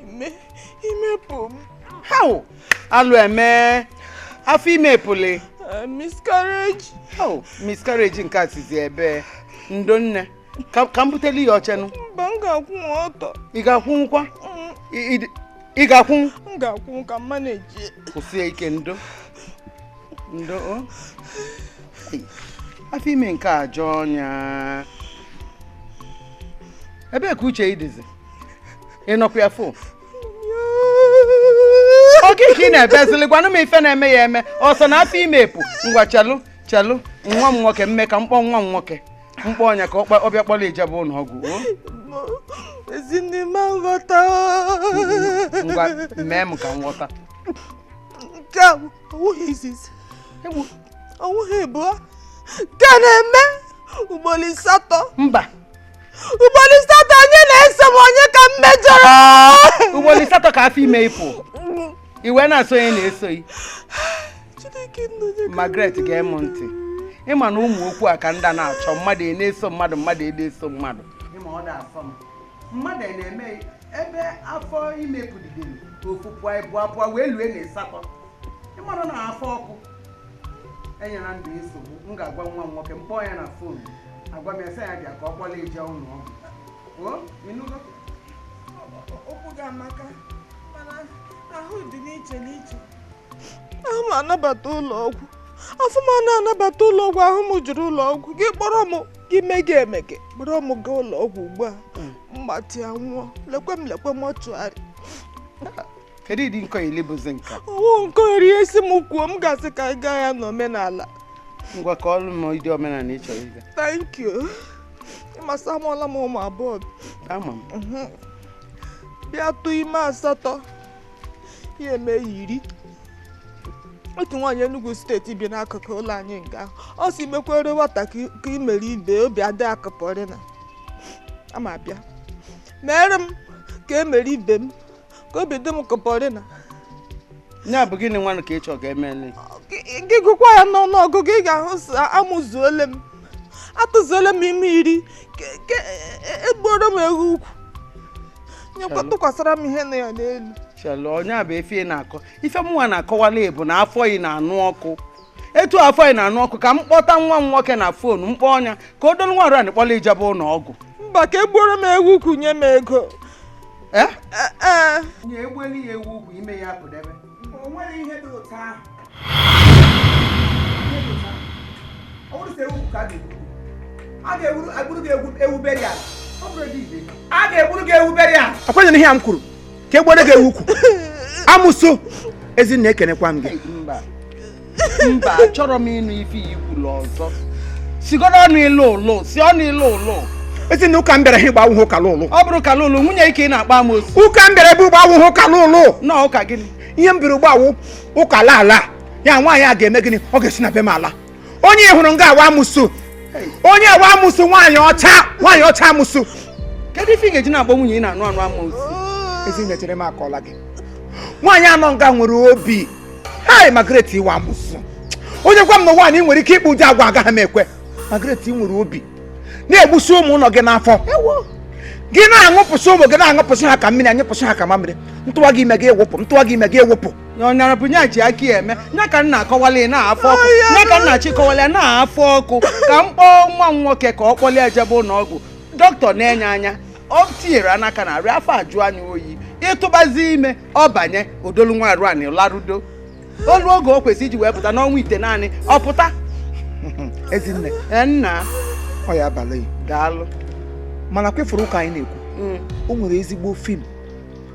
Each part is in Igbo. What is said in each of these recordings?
ime ime pụ m how alụ eme afọ ime pụlị uh, miscarriage how miscarriage nke a sizi ebe ndo nne ka m buteli yi oche nụ mba m ga-akwụ ọtọ ị ga-akwụnwukwa mm. ị ga-akwụ m ga-akwụ ka m manage kwụsie ike ndo ndo afọ ime nke a jọọ ọnya ebee ka uche ị dịzi ị nọkwa ya fụ oke ka ị na-ebezili gwanụ m ife na-eme yi eme ọsọ na afọ ime pụ ngwa chelụ chelụ nwa m nwoke mme ka m kpọọ nwa m nwoke m kpọọ nya ka ọ bịa kpọrọ ị jebe ụlọ ọgwụ ezinne m nghọta ngwa mee m ka m ghọta nke a ọ wụghị izizi ọ wụghị ịbụọ nke na-eme ugboro asatọ mba ugboro asatọ onye na-eso m onye ka m mejọrọ ugboro asatọ ka afọ ime ị pụ i wee na-asị onye na-eso ghị Margaret gee m ntị ị ma na ụmụ okwu a ka m da na-achọ mmadụ e na-eso mmadụ mmadụ e na-eso mmadụ ị ma ọ da-asọ m mmadụ na-eme ebe afọ ime pụdidere ofu pụọ ịbụa pụọ wee lue na ịsatọ ị mara na afọ ọkụ enyela ndụ nsogbu m ga-agwa nwa m nwoke m kpọọ ya na fon agwa m ya sị ya bịa ka ọ kpọlụ ị jee ụlọ ọgwụ okwu gị amaka mana ahụ dị n'iche n'iche ahụ m anabata ụlọ ọgwụ afọ m ana anabata ụlọ ọgwụ ahụ m jụrụ ụlọ ọgwụ gị kpọrọ m gị mege emege kpọrọ m gaa ụlọ ọgwụ ugbu a hmm. m gbatịa nwụọ lekwe m lekwe m ọchụgharị kedu ụdị nkọli bụzi nke a ọ wụ nkọri esi m kwuo m ga-asị ka ị gaa ya n'omenala ngwa kọọlụ m ụdị omenala ị chọrọ ịga thank you ị ma sị amụọla m ụmụ abụọ ama m mhm. bịa tụ ime asatọ ya eme iri otu nwaanyị Enugu steeti bi n'akụkụ ụlọ anyị nga ahụ sị mekwere nwata ka e mere ibe obi adị ya ka pọrịna ama bịa meere m ka e mere ibe m ka obi dị m ka pọrịna nya bụ gịnị nwanụ ka ị chọrọ ka e meele gị gụkwa ya n'ọnụ ọgụgụ ị ga-ahụ amụzuole m atụzuole m ime iri e gbuoro m ewu ukwu nyekwa tụkwasara m ihe na ya n'elu chelụ ọ nya bụ ife ị na-akọ ife mụnwa na-akọwalụ ị bụ na afọ ị na-anụ ọkụ etu afọ yị na-anụ ọkụ ka m kpọta nwa m nwoke na fon m kpọọ nya ka o dolu nwa arụ anị kpọla ị jebe ụlọ ọgwụ mba ka egbuoro m ewu ukwu nye m ego ee eh? eh, eh. onye egbuli ya ewu ukwu ime ya pụdebe o nwere ihe dị ụtọ ahụ ọ bụrọ sọ ewu ukwu ka a ga-egburu gị ewu beri ala a ga-egburu gị ewu burial kwenye n'ihe a m kwuru ka egbuoro gị ewu ukwu amosu ezinne ekenekwa m gị mba achọrọ m ịnụ ife ị kwuru ọzọ sigoro ọnụ ịlụ ụlụ si ọnụ ịlụ ụlụ ezinne ụka m bịara ha ugbu a awụhụ ụka ọlụlụ ọ bụrụ ụka ọlụlụ nwunye gị ka ị na-akpọ amosu ụka m bịara ebe ugbu a awụhụ ụka ọlụlụ na ụka gịnị ihe m bịara ugbu a wụ ụka ala ala ya nwaanyị a ga-eme gịnị ọ ga-esi na be m ala onye ị hụrụ nga a wụ amụsụ onye wụ amụsụ nwaanyị ọcha nwaanyị ọcha amụsụ kedu ife ị ga-eji na-akpọ nwunye ị na-anụ anụ amụsụ ezinne chere m akọla gị nwaanyị a nọ nga nwere obi hai Margaret ị wụ amụsụ onye gwa m na nwaanyị nwere ike ịkpa ụdị agwa agaghị m ekwe Margaret nwere obi na-egbusi ụmụ nọ gị n'afọ gị na-anyụpụsị ụmụ gị na-anyụpụsị ha ka mmiri anyụpụsị ha ka mamịrị atụwa gị ime gị ewepụ atụwa gị ime gị ewepụ ọnyara bụ nya ji aka ya eme nya ka nna akọwala ya n'afọ ọkụ nya ka nna chịkọwala ya n'afọ ọkụ ka m kpọọ nwa m nwoke ka ọ kpọlie ejebe ụlọ ọgwụ dọkịta na-ene anya ọ tinyere ya aka n'arụ ya afọ ajụọ nya oyi ịtụbazi ime ọ banye o dolu nwa arụ anị larudo o lue oge o kwesịrị iji wee pụta n'ọnwa itenaanị ọ pụta ezinne e, nna ọ ya abalị daalụ mana ọkwa ị fụrụ ụka anyị na-ekwu mm. o nwere ezigbo fim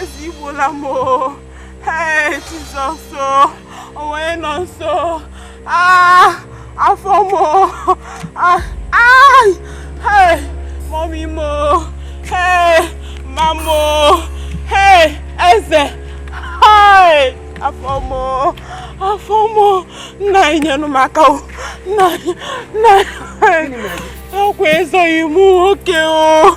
eze igbuola m Jizọs onye nọ nso afọ m mọmi m mama m eze afọ m afọ m nna anyị nyenụ m aka nna anyị ọkwa eze enyi m nwoke o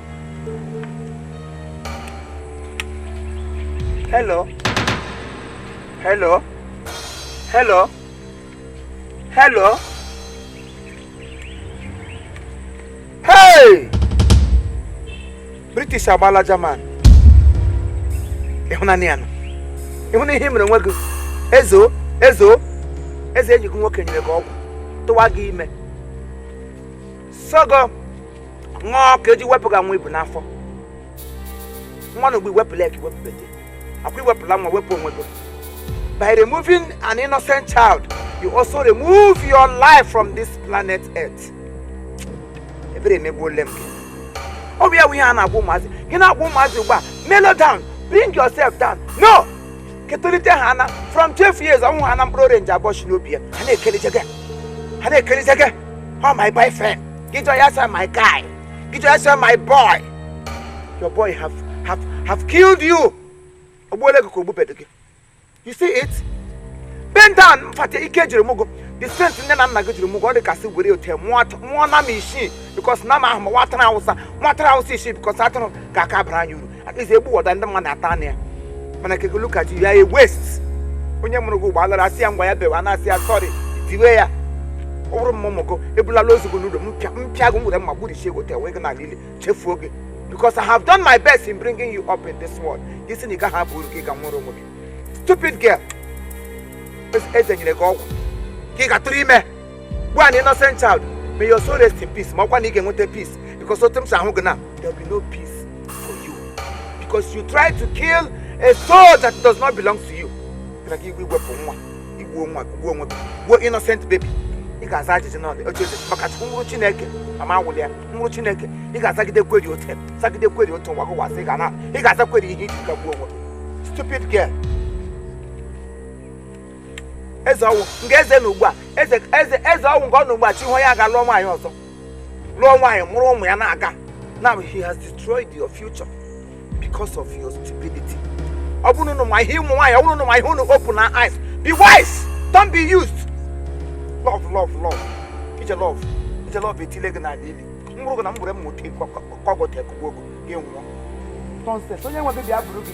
Hello. Hello. Hello. Hello. Hey! British agbala German. Ị hụnanụ ya nụ. Ị hụna ihe ị mere onwe gị. Ezo, ezo, eze enyi gị nwoke nyere gị ọgwụ, tụwa gị ime. sị gị ṅụọ ka eji wepụ gị nwa i bu n'afọ ngwanụ ugbu a i wepụla ka iwepụbete ọkwa i wepụla nwa wepụ onwe gị by removing an innocent child you also remove your life from this planet earth ebere emegbuole m gị ọ bụ ya bụ ihe a na-agwa ụmụazị gị na-agwa ụmụazị ugbu a mellow down bring yourself down no ketolite ha ana from 12 years ọnwụ ha na mkpụrụ orange abụọ chi n'obi ya ha na-ekelije gị ha na-ekelije gị Oh my boyfriend. Gị jụọ ya asị my guy. Gị jụọ ya asị my boy. Your boy have have have killed you. O gbuole gị ka o gbubedo gị. You see it? Bend down, fate ike e jiri mụọ gị. The strength nne na nna gị jiri mụọ gị ọ dị ka sị were ote mụọ nama isii because nama ahụ ma nwa atụrụ awụsa nwa atụrụ awụsa isii because atụrụ ga-aka abara anyị uru at least egbu wọta ndị mmadụ ata anụ ya mana keke look at you you are a waste onye mụrụ gị ugbuala ara asị ya ngwa ya bewa na-asị ya sorry diwe ya ọ bụrụ mụ mụ gị ebulala ozu gị n'ụlọ m pịa gị m were mma gburichie gị tewe gị n'ala ili chefuo gị because I have done my best in bringing you up in this world gị si na ị gaghị aba uru gị ga nwere onwe gị stupid girl eze nyere gị ọgwụ ka ị ga tụrụ ime gbuo an innocent child may your soul rest in peace ma ọkwa na ị ga-enweta peace because otu m si ahụ gị na there will be no peace for you because you try to kill a soul that does not belong to you na gị iwe iwepụ nwa i gbuo nwa gbuo onwe gbuo innocent baby ị ga-aza ajụjụ na oche eze maka chukwu n'iru chineke ị ma awụli ya n'iru chineke ị ga-azagide kweri ote zagide kweri otu nwa gụwasị ị ga na ị ga-aza kweri ihe i ji ka gbuo onwe stupid girl eze ọ wụ nke eze na ugbu a eze eze eze ọ wụ nke ọ na ugbu a echi ahụ ya ga lụọ nwaanyị ọzọ lụọ nwaanyị mụrụ ụmụ ya na-aga now he has destroyed your future because of your stupidity ọ bụrụ na ma ihe ụmụ nwaanyị ọ bụrụ na ma ihe unu open una eyes be wise don't be used love love love ije love ije love etile gị n'ala ili mkpụrụ gị na mgbere m nwoke kọgọta ekugbuo gị gị nwụọ nonsense onye nwe gị bịa buru gị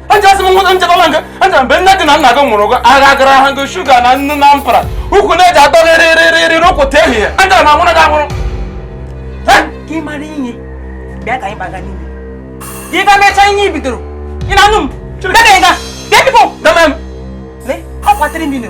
angela sị m nwụta nchekọba nke angela mgbe nne gị na nna gị mụrụ gị agha gara ha gị sugar na nnu na mpara ukwu na-eji atọ gị rịrịrịrị rụpụta ehihie angela m anwụrụ gị anwụrụ ka ị mara ihe bịa ka anyị gbaga n'ime ị ga mechaa ihe i bidoro ị na-anụ m bịa ka ị ga bịa bifo deme m lee ọ kwatịrị m ilo